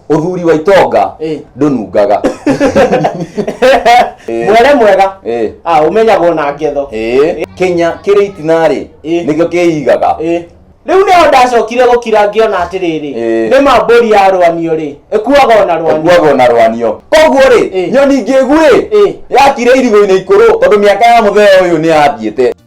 Ũthuri wa itonga Eh. ndũnungaga. Eh. mwere mwega Eh. ah umenyagwo na ngetho Eh. Kenya kĩrĩ itinarĩ Eh. nĩkĩo kĩigaga. Eh. rĩu nĩho ndacokire gũkira ngĩona atĩrĩrĩ Eh. nĩ mambũri ya rwanio rĩ ĩkuaga ona rwanio Kuagwo na rwanio. Koguo rĩ, Eh. nyoni ngĩgu rĩ, Eh. yakire irigũ-inĩ ikũrũ tondũ mĩaka ya mũthee ũyũ nĩ yathiĩte.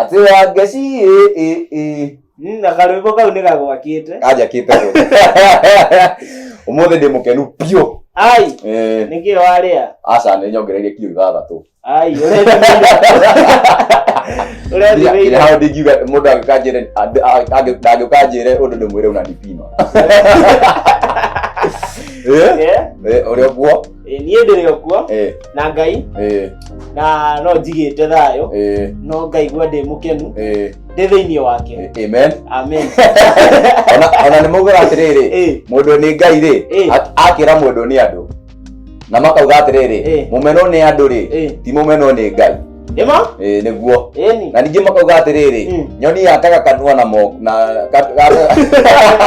atĩ ya ngeci ĩ ĩ ĩ Mm, na karwĩmbo kau nĩ gagwakĩte kanjakĩte ũmũthĩ ndĩ mũkenu biũ ai Eh, nĩkĩo warĩa aca nĩ nyongereire kiro ithathatũ Ai, ũrethimĩire hau ndingiuga mũndũ angĩkanjĩre ndangĩkanjĩre ũndũ ndĩmwĩre una ndipima ũrĩa ũguo niĩ ndĩrĩ ũguo na ngai na no njigĩte thayũ no ngaigua ndĩ mũkenu ndĩ thĩinĩ wake amen amen ona nĩ maugaga atĩrĩrĩ mũndũ nĩ ngai rĩ akĩra mũndũ nĩ andũ na makauga Eh. atĩrĩrĩ mũmeno nĩ andũ rĩ Eh. ti mũmeno nĩ ngai Nĩma? Eh, nĩguo Ĩni. na ningĩ makauga atĩrĩrĩ Mm. nyoni yakaga kanua na mo na ka- ka-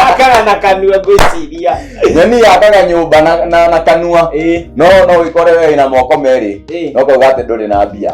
Akaga na kanua ngwĩciria. nyoni yakaga nyũmba na, na, na kanua Ĩ. no no wĩkore we na moko merĩ Ĩ. no kauga atĩ ndũrĩ na mbia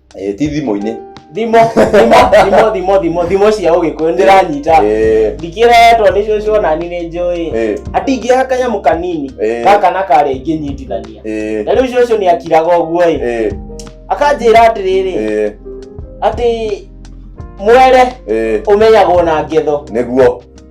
Eh, ti thimũ-inĩ thimo thimo thimo thimo thimo thimo cia ũgĩkũyũ ndĩranyita Eh, ndikĩretwo nĩ cũcũ ona ni nĩ njũĩ eh, atingĩaga kanyamũ kanini Eh. gaka na karĩa ingĩnyitithania eh, na rĩu cũcũ nĩ akiraga ũguo ĩ eh, akanjĩra atĩrĩrĩ eh, atĩ mwere eh. ũmenyagwo na ngetho nĩguo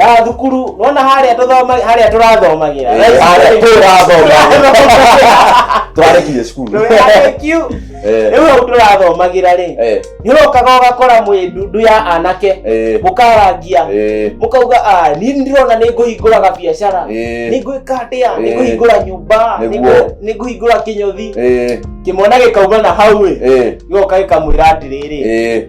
Ah, thukuru nona harĩa tũthoma harĩa tũrathomagira Eh, harĩa tũrathomagira. twarekirie cukuru Ndũrĩarĩkiu. Eh, rĩu hau tũrathomagira rĩ eh, nĩ ũrokaga ũgakora mwĩ ndundu ya anake eh, mũkarangia eh, mũkauga "Ah, niĩ nĩ ndĩrona nĩ ngũhingũraga biacara eh, nĩ ngwĩka atĩa nĩ Eh. ngũhingũra nyũmba nĩ Nĩguo. ngwĩ- nĩ ngũhingũra kĩnyothi eh, kĩmwana gĩkauma na hau ĩ eh, gĩgoka gĩkamwĩra atĩrĩrĩ eh.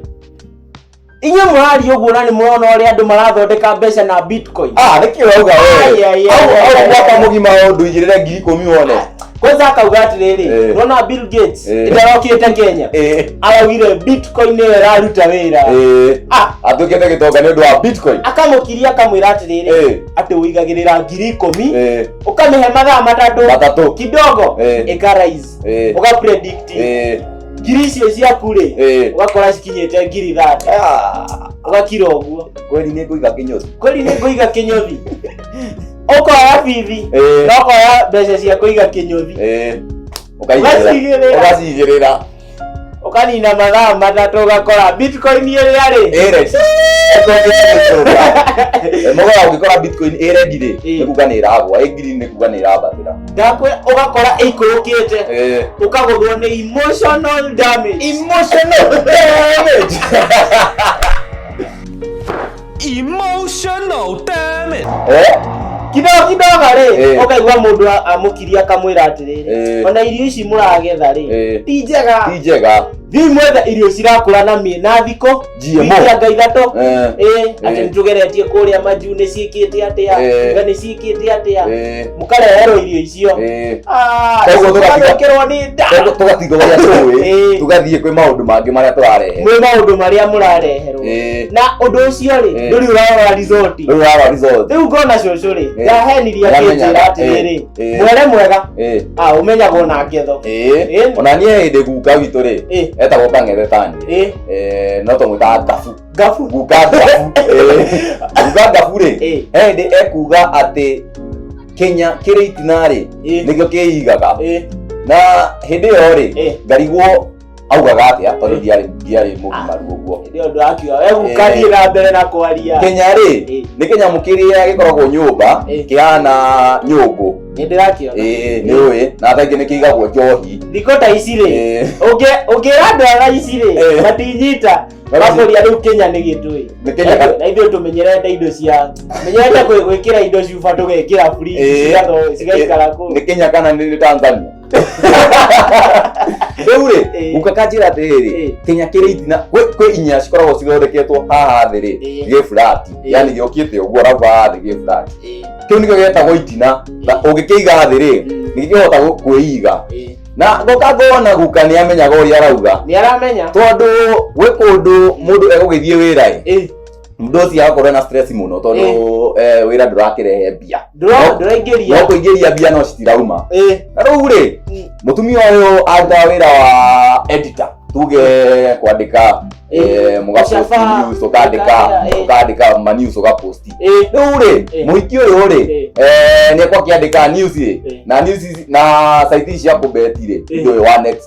inyuĩ mũraria ũguo na nĩ mũrona ũrĩa andũ marathondeka mbeca na bitcoin ah nä kä rauga Ai, ai, ai, ai, ai. wewaka må gima å ndå igä rä re ngiri ikå mi wone kwanza akauga atĩrĩrĩ Eh. nona bill gates Eh. ndarokĩte kenya Eh, araugire bitcoin nĩyo ĩraruta wĩra eh, Ah, atå kä te gä tonga nä å ndå wa bitcoin akamũkiria akamwĩra Eh. atĩrĩrĩ atĩ ũigagĩrĩra ngiri ikũmi Eh, ũkamĩhe mathaa matatũ matatå kidogo Eh. ĩkarais Eh. ũgapredict Eh, ngiri icio ciaku rĩ Eh. ũgakora cikinyĩte ngiri ithate Ah, ũgakira ũguo kweli nĩ ngũiga kĩnyothi kweli nĩ ngũiga kĩnyothi ũkoya bithi Eh. na ũkoya mbeca cia kũiga kĩnyothi Eh, ũkaigĩrĩra Ũgacigĩrĩra. ũgacigĩrĩra ũkanina mathaa matatũ ũgakora bitcoin ĩrĩa rĩ ĩre mũgora ũngĩkora bitcoin ĩrendi rĩ Eh. nĩ kuga nĩ ĩragwa ĩngiri nĩ kuga nĩ ĩrambatĩra gakwe ũgakora ĩikũrũkĩte Eh. ũkagũthwo nĩ emotional damage emotional damage emotional damage Eh? kidogo kidogo rĩ Eh. ũkaigua mũndũ a- amũkiria akamwĩra atĩrĩrĩ Eh. ona irio ici mũragetha rĩ Eh. ti njega ti njega thiĩ mwethe irio cirakũra na mĩnathikũ GMO. Ngianga ithatũ Eh, ĩ atĩ Eh. nĩtũgeretie kũrĩa manju nĩ ciĩkĩte atĩa Eh. nga nĩ ciĩkĩte atĩa eh, mũkareherwo irio icio eh. Ah, Koguo tũgatiga- tũgacokerwo nĩ nda Tũ- tũgatiga ũrĩa tũĩ Eh. tũgathiĩ kwĩ maũndũ mangĩ marĩa tũrarehe mwĩ maũndũ marĩa mũrareherwo Eh. na ũndũ ũcio rĩ Eh. ndũrĩ ũrarora rizoti rĩu rara resort rĩu ngona cũcũ rĩ Eh. ndahenirie Ndamenyaga. akĩnjĩra atĩrĩrĩ Eh. Eh. mwere mwega Eh, a ũmenyagwo na ngetho eh. Eh. ona niĩ hĩndĩ guka witũ rĩ Eh. etagwo kang'ethe tani ĩ eh, no tũmwĩtaga gabu gabu guka gabu eh, guka gabu rĩ Eh. hĩndĩ ekuga atĩ kenya kĩrĩ itinarĩ Eh. nĩkĩo kĩigaga Eh, na hĩndĩ ĩyo rĩ Eh. ngarigwo augaga atĩa tondũ Eh. ndiarĩ ndiarĩ mũgimaru ũguo hĩndĩ ĩyo ndũrakiuga we gũkathiĩ na mbere na kwaria kenya rĩ Eh. nĩ kĩnyamũ kĩrĩa gĩkoragwo nyũmba Eh. kĩhana nyũngũ nĩ ndĩrakĩona ĩĩ nĩ ũĩ na thaingĩ nĩ kĩigagwo njohi thikũ ta ici rĩ Ĩĩ. ũngĩ- ũngĩra ndwara ici rĩ Ĩĩ. matinyita Mati- makũria rĩu kenya nĩ gĩtũĩ Nĩ Kenya ka- na ithuĩ tũmenyerete indo cia menyerete gwĩ- gwĩkĩra indo cuba tũgekĩra Ĩĩ. free cigaikara kũ nĩ kenya kana nĩ nĩ tanzania rĩu rĩ Eh. guka kanjĩra atĩrĩrĩ Eh. kinya kĩrĩ itina kwĩ kwĩ inya cikoragwo cithondeketwo haha thĩ rĩ Eh. gĩ furati Eh. yani gĩũkĩte ũguo arabu haha thĩ gĩ furati Eh, kĩu nĩkĩo gĩtagwo itina na ũngĩkĩiga thĩ rĩ Mm. nĩkĩhota gũ- kwĩiga eh. na ngoka ngona guka nĩ amenyaga ũrĩa arauga nĩ aramenya tondũ gwĩ kũndũ mũndũ egũgĩthiĩ wĩra ĩ Eh, mũndũ ũcio agakorwo na stress mũno tondũ eh, wĩra ndũrakĩrehe mbia Ndũra- ndũraingĩria no kũingĩria mbia no citirauma Eh, na rĩu rĩ mm, mũtumia ũyũ arutaga wĩra wa editor tuge kwandĩka eh, Eh, mũgaposti gũcaba, news ũkandĩka ũkandĩka, eh. ũkandĩka ma news ũgaposti eh, rĩu rĩ Eh. mũhiki ũyũ rĩ Eh. eh, nĩekwa akĩandĩka news rĩ Eh. na news ici- na site ici cia kũbeti rĩ Eh. indo wa next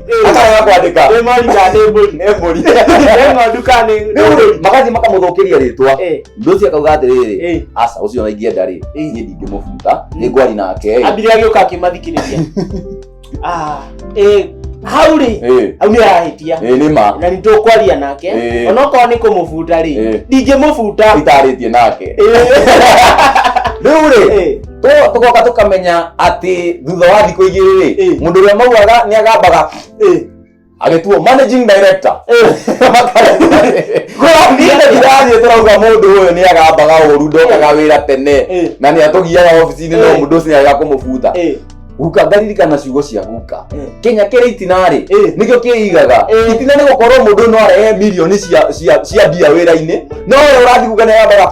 Hata wewe kwandĩka. Nĩ mori kana nĩ mbũri? Nĩ mbũri. Nĩ ng'ondu kana nĩ Nĩ mbũri? Magathiĩ makamũthũkĩria rĩtwa. Eh, Mũndũ ũcio akauga atĩrĩrĩ, eh. aca ũcio ona ingĩenda rĩ, Eh. niĩ ndingĩmũbuta, nĩ ngwari nake ĩ. Ambire agĩũka akĩmathikĩrĩria. Ah, eh, hau rĩ, Ĩ, hau nĩ arahĩtia. ĩ, nĩ ma. Na nĩ tũkwaria nake. Eh. Onokorwo nĩ kũmũbuta rĩ, Eh. ndingĩmũbuta. Itarĩtie nake. Eh. Rĩu rĩ, Eh. Tũ- tũgoka tũkamenya atĩ thutha wa thikũ igĩrĩ rĩ Eh. mũndũ ũrĩa mauaga nĩ agambaga Eh. agĩtuo managing director ndirathiĩ tũrauga mũndũ ũyũ nĩ agambaga ũru ndokaga wĩra tene Eh. na nĩ atũgiaga obici-inĩ no Eh. mũndũ ũcio nĩ arega kũmũbuta Eh. guka ngaririkana ciugo cia guka Eh. kenya kĩrĩ itinarĩ Eh. nĩkĩo kĩigaga Eh. itina nĩ gũkorwo mũndũ no arehe mirioni cia- cia cia mbia wĩra-inĩ no ũyũ ũrathiĩ guka nĩ agambaga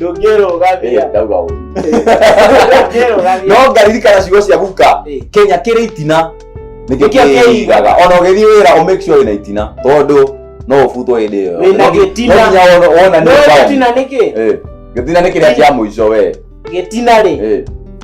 ndũngĩrũgamia ndauga ũru ndũngĩrũgamia no ngaririkana ciugo cia guka Eh. kenya kĩrĩ itina Nĩkĩo nĩkĩo kĩigaga. kĩigaga ona ũgĩthiĩ wĩra ũmake sure wĩna itina tondũ no ũbutwo hĩndĩ ĩyo Wĩna No ngi- gĩtina. no nginya wona- wonanie no bound. gĩtina nĩkĩ Eh, gĩtina nĩ kĩrĩa kĩa mũico we gĩtina rĩ Eh,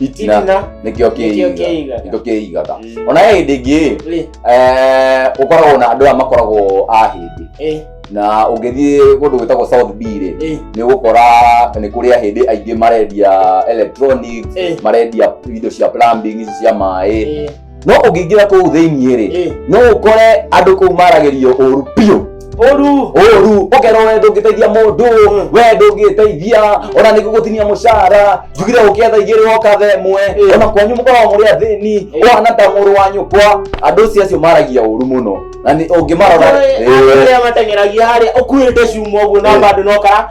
itirina nĩkĩo Nĩkĩo kĩigaga. nĩkĩo kĩigaga Mm. ona he hĩndĩ ĩngĩ Rĩ, eh, ũkoragwo na andũ aya makoragwo a hĩndĩ eh, na ũngĩthiĩ kũndũ gwĩtagwo south b rĩ eh, nĩ ũgũkora nĩ kũrĩ ahĩndĩ aingĩ marendia electronics Eh. marendia indo cia plumbing ici cia maĩ eh. no ũngĩingĩra kũu thĩiniĩ rĩ Eh. no ũkore andũ kũu maragĩrio ũru biũ Oru. ũru ũkerwo we ndũngĩteithia mũndũ Mm. we ndũngĩteithia ona nĩ gũgũtinia mũcara njugire ũkĩetha igĩrĩ woka tha ĩmwe Eh. ona kwanyu mũkoragwo mũrĩ athĩni Eh. ũhana ta mũrũ wa nyũkwa andũ ũcio acio maragia ũru mũno na nĩ- ũngĩmarora Eh. Rĩrĩa mateng'eragia harĩa ũkuĩte cuma ũguo na Eh. bado no kara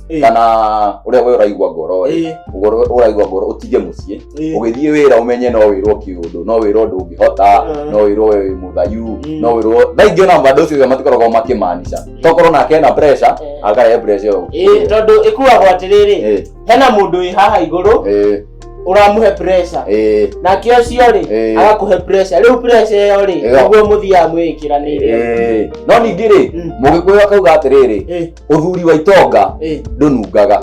Ĩĩ, kana ũrĩa we ũraigua ngoro rĩ ĩĩ, ũgoro- ũraigua ngoro ũtige mũciĩ ĩĩ. ũgĩthiĩ wĩra ũmenye no wĩrwo kĩũndũ no wĩrwo ndũngĩhota Mm. no wĩrwo wĩ mũthayu Mm. no wĩrwo thaa ingĩ ona mbandũ ũcio matikoragwo makĩmaanisha tokorwo nake ena pressure Eh. akarehe pressure ĩyo Ĩĩ, tondũ ĩkuagwo atĩrĩrĩ Ĩĩ, hena mũndũ wĩ haha igũrũ ĩĩ, ũramũhe pressure ĩĩ, nake ũcio rĩ Ĩĩ. agakũhe pressure rĩu pressure ĩyo rĩ Ĩyo. nĩguo mũthiaga mwĩkĩranĩire ĩĩ. no ningĩ rĩ Mm. mũgĩkũyũ akauga atĩrĩrĩ Ĩĩ, uthuri wa itonga Eh. ndunungaga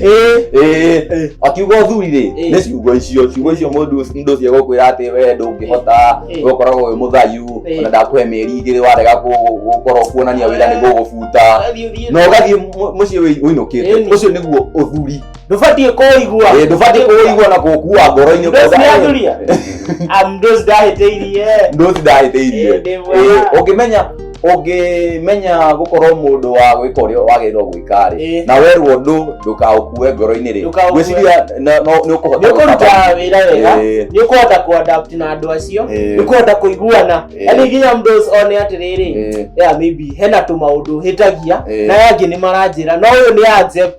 Eh. Eh. akiuga uthuri rĩ Eh. nĩ ciugo icio ciugo icio mũndũ mũndũ ũcio gũkwĩra atĩ we ndũngĩhota Eh. we ũkoragwo wĩ mũthayu Eh. ona ndakũhe mĩeri igĩrĩ warega kũ- gũkorwo kuonania wĩra nĩ gũgũbuta Thiĩ, thiĩ. na ũgathiĩ mu- mũciĩ wĩ- ũinũkĩte Ĩni. ũcio nĩguo ũthuri ndubatiĩ kũigua Eh, ndũbatiĩ kũigua na kũkua ngoro-inĩ ndosi kuga, eh, yanjuria amndosi ndahĩtĩirie ndosi ndahĩtĩirie Ĩndĩ wa. Eh, ũngĩmenya ũngĩmenya gũkorwo mũndũ wa gwĩka ũrĩa wagĩrĩirwo gwĩka rĩ Eh. na werwo ndũ ndũkaũkue ngoro-inĩ rĩ Ndũkaũkue. gwĩciria na- no- nĩ ũkũhota nĩ ũkũruta gũtabania. wĩra wega Eh. nĩ ũkũhota kũadapt na andũ acio Eh. nĩ ũkũhota kũiguana Eh. yani nginya mdos one atĩrĩrĩ Eh. yeah, maybe hena tũmaũndũ hĩtagia Eh. na yangĩ nĩ maranjĩra no ũyũ nĩ anjep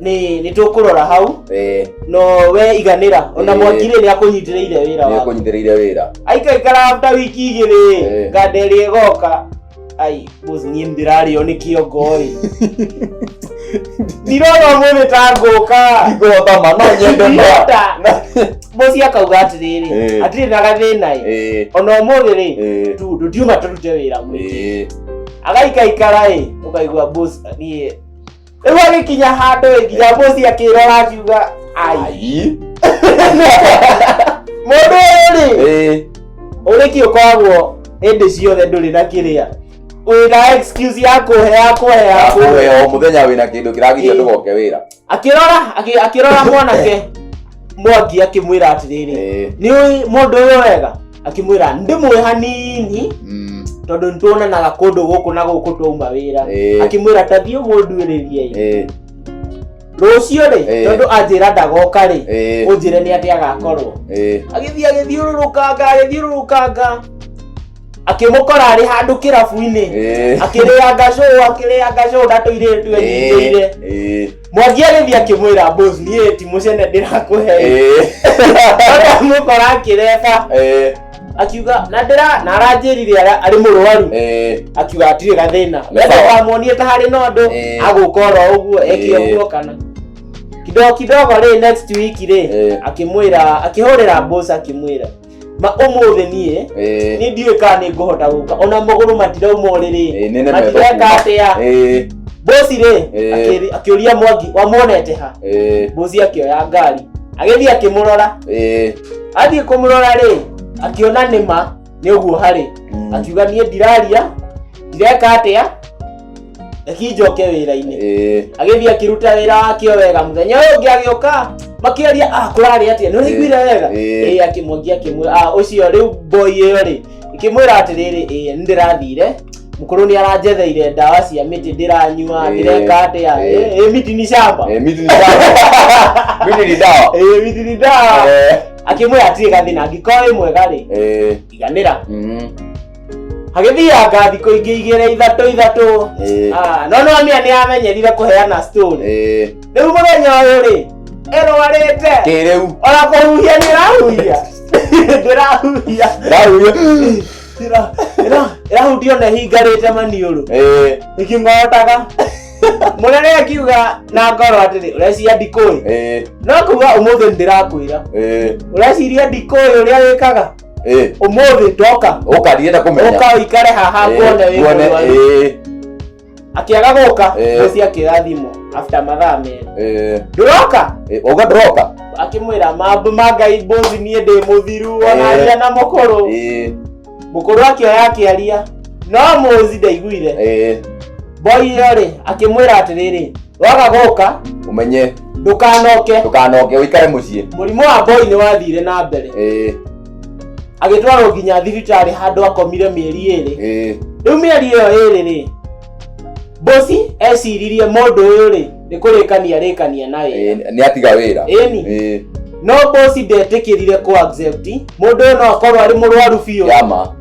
ni ni tukurora hau eh no we iganira ona Eh. mwaki ri ni akunyitiriire wira ni waku kunyithireire wira aikaikara after wiki igiri Eh. nganderi igoka ai bus nie ndirario ni kiongoi ndirona mwene ta ngũka igota ma no nyende ma Ndirota. bosi akauga atiriri Eh. atiriri na gathina i eh ona umuthi ri eh tu ndutiuma turute wira mwingi eh agaikaikara i ukaigua boss nie rĩu agĩkinya handũ ĩ nginya mũci akĩrora akiuga ai Ai. mũndũ ũyũ rĩ Eh. ũrĩki ũkoragwo hĩndĩ ciothe ndũrĩ na kĩrĩa wĩna excuse ya kũhe ya kũhe ya kũhe Akũhe o mũthenya wĩna kĩndũ kĩragiria Eh. ndũgoke wĩra. akĩrora akĩ- akĩrora mwanake mwangi akĩmwĩra atĩrĩrĩ Eh. nĩ ũĩ mũndũ ũyũ wega akĩmwĩra ndĩmũĩ hanini Mm. tondũ nĩtuonanaga kũndũ gũkũ na gũkũ twauma wĩra Eh. akĩmwĩra tathiĩ mũnduĩrĩrie Eh. rũciũ rĩ Eh. tondũ anjĩra ndagoka rĩ Eh. ũnjĩre nĩ atĩ agakorwo Eh. agĩthiĩ agĩthiũrũrũkanga agĩthiũrũrũkanga akĩmũkora arĩ handũ kĩrabu-inĩ Eh. akĩrĩanga cũũ akĩrĩanga cũũ ndatũirĩtwe nyingĩire Eh. Eh. mwangi agĩthiĩ akĩmwĩra boss niĩ ti mũcene ndĩrakũhe Eh, mũkora akĩreka eh, akiuga na ndĩra na aranjĩrire ara- arĩ mũrwaru eh, akiuga atirĩ gathĩna Nĩ wenda sawa. wamuonie ta harĩ na ũndũ Eh. agũka oro ũguo eke Eh. ũguo kana kidogo kidogo rĩ next week rĩ Eh. akĩmwĩra akĩhũrĩra boss akĩmwĩra ma ũmũthĩ niĩ Eh, nĩ ndiũĩ kana nĩ ngũhota gũka ona magũrũ matirauma ũrĩrĩ eh, nene meto matireka kuma. atĩa Eh, bosi rĩ Eh. akĩri- akĩũria mwangi wamuonete ha eh, bosi akĩoya ngari agĩthiĩ akĩmũrora eh, athiĩ kũmũrora rĩ akĩona nĩma nĩ ũguo harĩ mm. akiuga niĩ ndiraria ndireka atĩa reki njoke wĩra-inĩ Ĩĩ. agĩthiĩ akĩruta wĩra wakĩo wega mũthenya ũyũ ũngĩ agĩũka makĩaria ah kũrarĩ atĩa nĩ ũraiguire wega Ĩĩ. ĩĩ akĩmũngia akĩmwĩra ah ũcio rĩu boy ĩyo rĩ ĩkĩmwĩra atĩrĩrĩ ĩĩ nĩ ndĩrathire mũkũrũ nĩ aranjetheire ndawa cia mĩtĩ ndĩranyua Ĩĩ. ndĩreka atĩa Ĩĩ. Ĩĩ, ĩĩ, miti ni shamba Eh, miti ni dawa. Miti ni dawa. ĩĩ miti ni ndawa Eh, akĩmwĩra atirĩ gathĩna angĩkorwo wĩ mwega rĩ eh, iganĩra mm. agĩthianga thikũ ingĩ igĩrĩ ithatũ ithatũ Eh, Ah, no noamia nĩ amenyerire kũheana stone eh, rĩu mũthenya ũyũ rĩ ĩrwarĩte kĩrĩu ona kũhuhia nĩ ĩrahuhia ndĩrahuhia ndahuria Ĩra- ĩra- ĩrahutia ona ĩhingarĩte maniũrũ Eh, ĩkĩmootaga mũnene akiuga na ngoro atĩrĩ ũreciria ndikũĩ eh, no kuga ũmũthĩ nĩ ndĩrakwĩra eh. ũreciria ndikũĩ ũrĩa wĩkaga Eh, umuthi ndoka ũkariĩ ta kũmenya uka uikare haha Eh, nguone wĩ nguone, mũrwaru eh, akiaga guka Eh. muci akioya thimu after mathaa merĩ eh, nduroka eh, uga ndũroka akimwira mambu ma ngai mbuzi niĩ ndĩ mũthiru Eh. onaria na mũkũrũ Eh, mũkũrũ akioya akĩaria no mũzi ndaiguire eh, boy ĩyo rĩ akĩmwĩra atĩrĩrĩ waga gũka ũmenye ndũkanoke ndũkanoke ũikare mũciĩ mũrimũ wa mboi nĩ wathire na mbere Ĩĩ, agĩtwarwo nginya thibitarĩ handũ akomire mĩeri ĩrĩ ĩĩ. rĩu mĩeri ĩyo ĩrĩ rĩ mbosi eciririe mũndũ ũyũ rĩ nĩ kũrĩkania rĩkania na wĩra Ĩĩ, nĩ atiga wĩra Ĩni. Ĩĩ, no mbosi ndetĩkĩrire kũ accept mũndũ ũyũ no akorwo arĩ mũrwaru biũ yama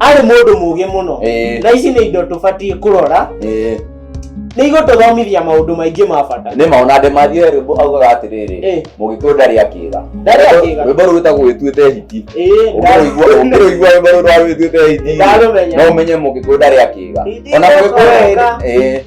arĩ mũndũ mũgĩ mũno Eh. na ici nĩ indo tũbatiĩ kũrora Ĩĩ. nĩ igũtũthomithia maũndũ maingĩ ma bata nĩ maona andĩ mathiĩ rwĩmbo augaga atĩrĩrĩ Ĩĩ. mũgĩkũyũ ndarĩ akĩga Ndarĩ akĩga. rwĩmbo rũu rwĩtagwo wĩtuĩte hiti Ĩĩ, ũngĩrũigua ũngĩrũigua rwĩmbo rũu rwa wĩtuĩte hiti Ndarũmenya. no ũmenye mũgĩkũyũ ndarĩ akĩga Hiti ona ĩgũcoka. mũgĩkũyũ ĩĩ.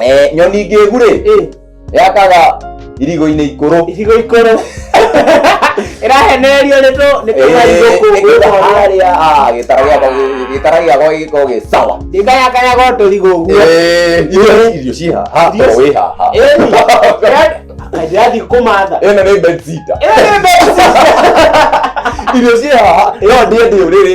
Eh, nyoni ngĩgu rĩ Ĩ, yakaga irigo-inĩ ikũrũ icigo ikũrũ ĩrahenererio nĩ tũ nĩ tũmarigũkũngũ harĩa ah, gĩtara gĩakwa gĩ- gĩtara gĩakwa gĩkorwo gĩ sawa ndĩkayakayaga tũrigo ũguo Eh, irio irio ciĩ haha Irio toro wĩ haha ndĩrathiĩ kũmatha ĩno nĩ bensita Ĩno nĩ mbeca. irio ciĩ haha ĩyo ndiĩ ndĩ ũrĩrĩ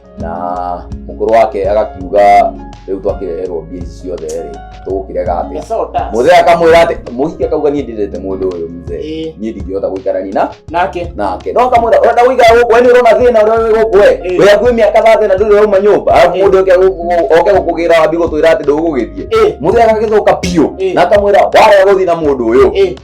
na mukuru wake agakiuga riu twakireherwo mbia ici ciothe ri tugukirega atia Mbeca ũta. muthe akamwira ati muhiki akauga nie ndirete mundu uyu mzee Ĩĩ. nie ndingihota guikarani na Nake. nake no kamwira urenda guikara guku we ni urona thina uria wi guku we Ĩĩ. we akui miaka thate na nduri rauma nyumba arabu Ĩĩ. mundu oke guku- oke gukugira wambi gutwira ati ndugugithie Ĩĩ. muthe agagithuka biu Ĩĩ. na akamwira warega guthii na mundu uyu Ĩĩ.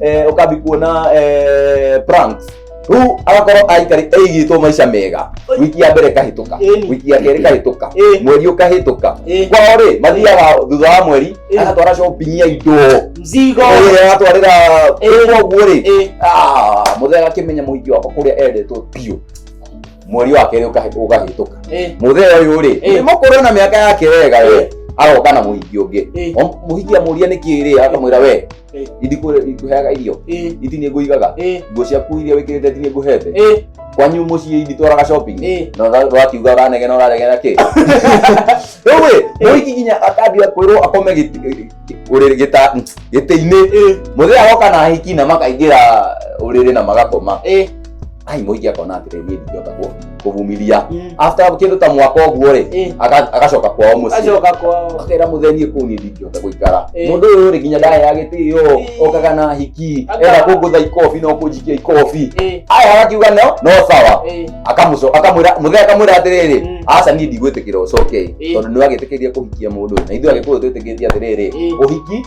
eh, ukambi kuona eh, pranks riu agakorwo aikari aigitwo maica mega wiki ya mbere kahituka Ĩni. wiki ya kerĩ kahituka Eh. mweri ukahituka Eh. kwao ri mathiaga thutha wa mweri Eh. agatwara shopping ya indo mzigo Eh, agatwarira Eh. koguo ri Eh. muthe agakimenya muhingi wakwa kuria endetwo biu mweri wa kerĩ ũkahe- ũkahĩtũka Eh, muthe ũyũ rĩ Eh. nĩ mũkũrũ na mĩaka yake wega Eh. we aroka na muhingi ũngĩ Eh. O- muhingi amũria nĩkĩ rĩ akamwĩra we Eh. ithi kũ- ngũheaga irio Eh, ithi nĩ ngũigaga eh, nguo ciaku iria wĩkĩrĩte ithi nĩ ngũhete eh, kwanyu mũciĩ ithi twaraga shopping eh. na ũra- ũrakiuga ũranegena ũraregena kĩ rĩu ĩ mũhiki nginya akambia kwĩrwo akome gĩti- gĩ- ũrĩrĩ- gĩta- gĩtĩ-inĩ Eh, mũthee agoka na ahiki na makaingĩra ũrĩrĩ na magakoma eh. ai moigi akona atire ni ndiota ku kuvumilia Mm. after kindu ta mwaka oguo ri Eh. aga- agacoka kwao mucii Acoka kwao. akera muthenie kuu ni ndingihota guikara Eh. mundu uyu ri nginya ndaya ya gitio Eh. okaga na hiki Aka- enda kungutha ikobi no kunjikia ikobi Eh. aya agakiuga no no sawa Eh. akamuco akamwira muthe akamwira atiriri Mm. aca ni ndigwitikira ucoke Eh. tondu ni wagitikirire kuhikia mundu na ithuĩ agikuyu twitikitie atiriri Eh. uhiki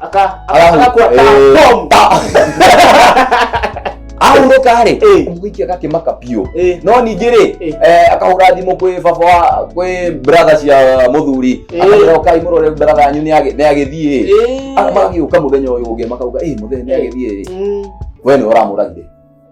aka agakuwa ahurũka rĩ Eh. mũhiki agakĩmaka biũ Eh. no ningĩ rĩ Eh. eh, akahũra thimũ kwĩ baba wa kwĩ bratha cia mũthuri Eh. akamwĩra ũkai mũrore bratha yanyu nĩagĩ- nĩagĩthiĩ Eh. magagĩũka mũthenya ũyũ ũngĩ makauga "Ĩ, mũthenya nĩagĩthiĩ Mm. we nĩ ũramũragire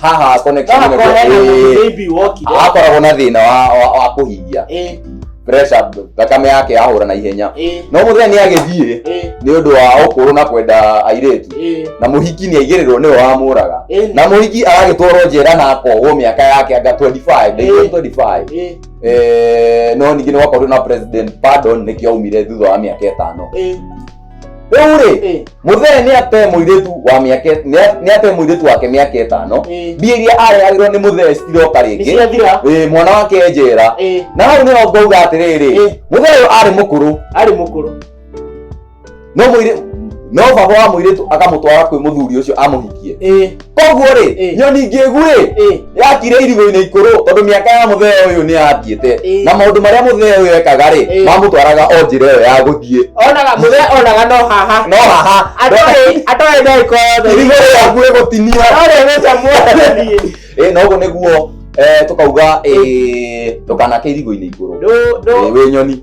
haha akone Haha kwa hena mũndũ baby wokire. akoragwo na thina wa- wa wa kũhihia Eh, pressure thakame yake yahũra na ihenya eh, no mũthenya nĩ agĩthiĩ eh, nĩ ũndũ wa ũkũrũ na kwenda airĩtu eh, na mũhiki nĩ aigĩrĩrwo nĩwe wamũraga eh, na mũhiki agagĩtwarwo njera na akohwo mĩaka yake anga 25 Eh. ndĩgĩo 25 eh, Eh, no ningĩ nĩ wakorirwo na president pardon nĩkĩo aumire thutha wa mĩaka ĩtano eh. rĩu rĩ Eh, mũthee nĩ ate mũirĩtu wa mĩaka nĩ ate mũirĩtu wake mĩaka ĩtano eh, mbia iria arehagĩrwo nĩ mũthee citiroka rĩngĩ nĩciathira Ĩ, mwana wake njera Eh, na hau nĩho ngauga atĩrĩrĩ Eh. mũthee ũyũ arĩ mũkũrũ arĩ mũkũrũ no mũirĩ no baba wa mũirĩtu akamũtwara kwĩ mũthuri ũcio amũhikie Eh, koguo rĩ Eh. nyoni ngĩgu rĩ Eh. yakire irigũ-inĩ ikũrũ tondũ mĩaka ya mũthee ũyũ nĩ yathiĩte Eh. na maũndũ marĩa mũthee ũyũ ekaga rĩ Eh. mamũtwaraga o njĩra ĩyo ya gũthiĩ onaga mũthee onaga no haha no haha atoĩ atoĩ ndaiko yothe irigũ rĩaku rĩgũtinia atoĩ mbeca muothe Eh, na ũguo nĩguo eh, tũkauga eh, ndũkanake irigũ-inĩ igũrũ ndũ ndũ Eh, wĩ nyoni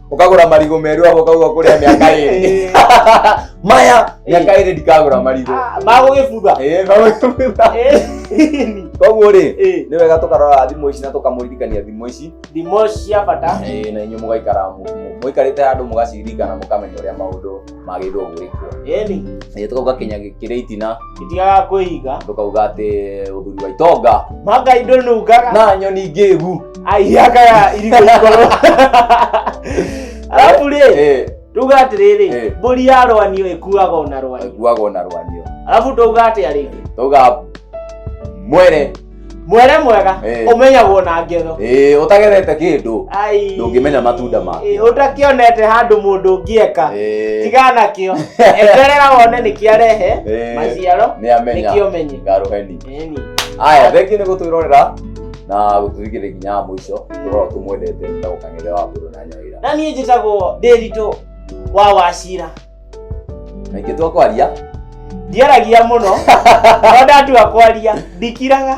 ukagura marigo meru abo kauga kuria miaka iri maya miaka iri ndikagura marigo magugibutha eh magugibutha koguo ri ni wega tukarora thimo ici na tukamuririkania thimo ici thimo cia bata eh na inyu mugaikara muikarite handu mugaciririkana mukamenya uria maundu magĩrĩirwo gwĩkwo ĩni Ĩĩ, tũkauga kinya kĩrĩa itina itigaga kwĩiga tũkauga atĩ ũthuri wa itonga manga indo nungaga na nyoni ngĩgu aihiaga irigũ ikoro arabu rĩ Ĩĩ, tuga atĩrĩrĩ Eh. mbũri ya rwanio ĩkuaga ona rwanio ĩkuaga ona rwanio arabu tuga atĩa rĩngĩ tauga mwere mwere mwega Eh. ũmenyagwo na ngetho ĩĩ ũtagethete kĩndũ Ai. ndũngĩmenya matunda make Ĩ, ũtakĩonete handũ mũndũ ũngĩeka Ĩĩ. tiga nakĩo eterera wone nĩkĩarehe Ĩĩ. maciaro nĩamenya nĩkĩo menye ngarũheni Ĩni. aya thengi nĩ gũtwĩrorera na gũtũthikĩrĩria nginya wa mũico tũkorwo tũmwendete na gũkang'ethe wa mbũrũ na nyawĩra na niĩ njĩtagwo ndĩritũ wa wacira kaingĩ twa kwaria ndiaragia muno no ndatua kwaria ndikiraga